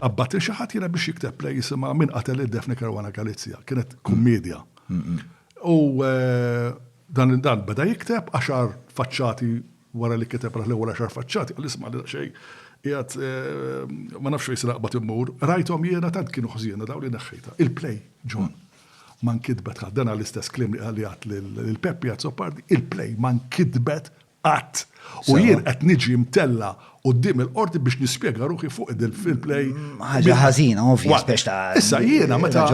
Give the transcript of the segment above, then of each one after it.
Qabbad il xi ħadd jiena biex jikteb play jisimha Min qatel id Defni Caruana Galizja. Kienet kummedja. U eh, dan dan beda jikteb għaxar faċċati wara li kiteb raħ l-ewwel għaxar faċċati, għal isma' li xej, jgħat eh, ma nafx fejn sraqbat immur, rajthom jiena tant kienu ħżiena daw li neħħejta. Il-play, John, man kitbet ħaddena l-istess klim li għalijat l-Peppi għad Sopardi, il-play man kitbet Qatt. U jien qed niġi mtella' quddiem il-qorti biex nispjega ruħi fuq il-fair play. Ħaġa ħażina, ovvja, spex ta' Issa jiena meta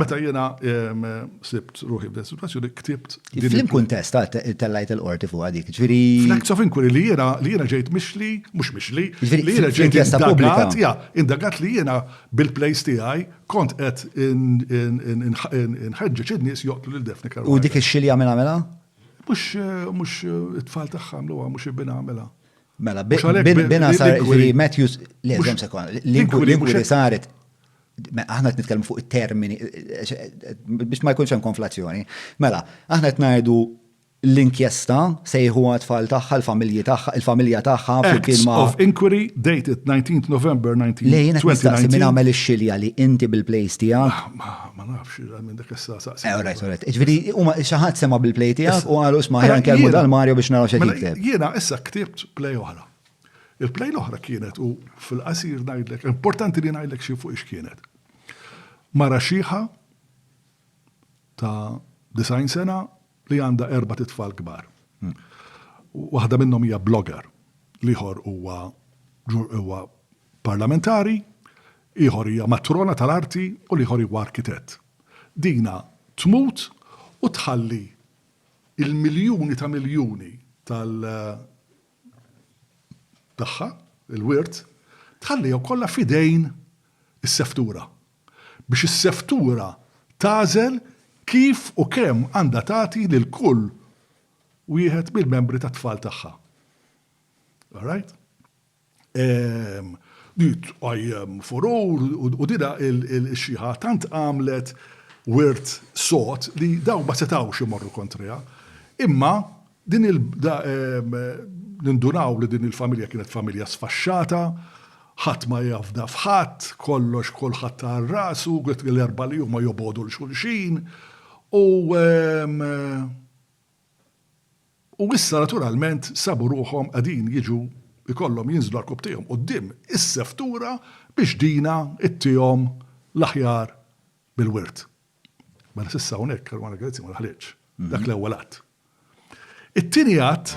meta jiena ehm, sibt ruħi f'din situazzjoni ktibt. Flim kuntest tellajt il-qorti fuq dik, ġifieri. Fl-acts of inquiry li jiena li jiena ġejt mixli, mhux mixli, li jiena ġejt indagat, ja, indagat li jiena bil-plays tiegħi kont qed inħeġġeġ in-nies joqtlu lil Daphne Caruana. U dik ix-xilja mela mela? Mhux mhux it-tfal tagħha għamluha, mhux il-bina għamilha. Mela, Mhux għalhekk bin- bina bin- sar l-inquiry- li Matthews, le, Mhux- żomm sekond, l-inquiry l-inquiry mhux l-inquiry hekk. saret, me- aħna qed nitkellmu fuq it-termini, eh, biex ma jkunx hemm konflazzjoni. Mela, aħna qed ngħidu l-inkjesta sejħuha tfal tagħha, l-familji tagħha, il-familja tagħha flimkien Acts ma' of inquiry dated 19th November Le, jien qed nistaqsi min 1920. għamel ix-xilja li inti bil-plejs tiegħek Ma nafx, minn dak issa saqsi. Eh, alright, alright. Ġviri, u ma xaħat sema bil-play tijak u għalu xma ħjan kelmu dal Mario biex naraw xed mela, jikteb. Jena issa ktibt play oħra. Il-play l-oħra kienet u fil-qasir najdlek, importanti li najdlek xie fuq kienet. Mara xieħa ta' design sena li għandha erbat itfal kbar. Waħda minnhom hija blogger, l-ieħor huwa huwa parlamentari, ieħor hija matrona tal-arti u l-ieħor huwa arkitett. Dina tmut u tħalli il-miljuni ta' miljuni tal tagħha, il-wirt, tħallihom kollha fidejn is-seftura. biex is-seftura tagħżel kif u kemm għandha tagħti lil kull wieħed mill-membri tat-tfal tagħha. Alright? Ehm, din tqajjem furur u dina il-xiħa tant għamlet wirt sod li daw ma setawx imorru kontriha. Imma Din il Nindunaw li din il-familja kienet familja sfaxxata, ħadd ma jafda f'ħadd, kollox kulħadd għal rasu, l-erbgħa li huma jobogħdu 'l xulxin, u u issa naturalment sabu ruħhom qegħdin jiġu jkollhom jinżlu rkub tiegħhom quddiem is-seftura biex dina ttihom l-aħjar bil-wirt. Mela s'issa hawnhekk Caruana Galizia ma daħlitx. Dak l-ewwel att. It-tieni att.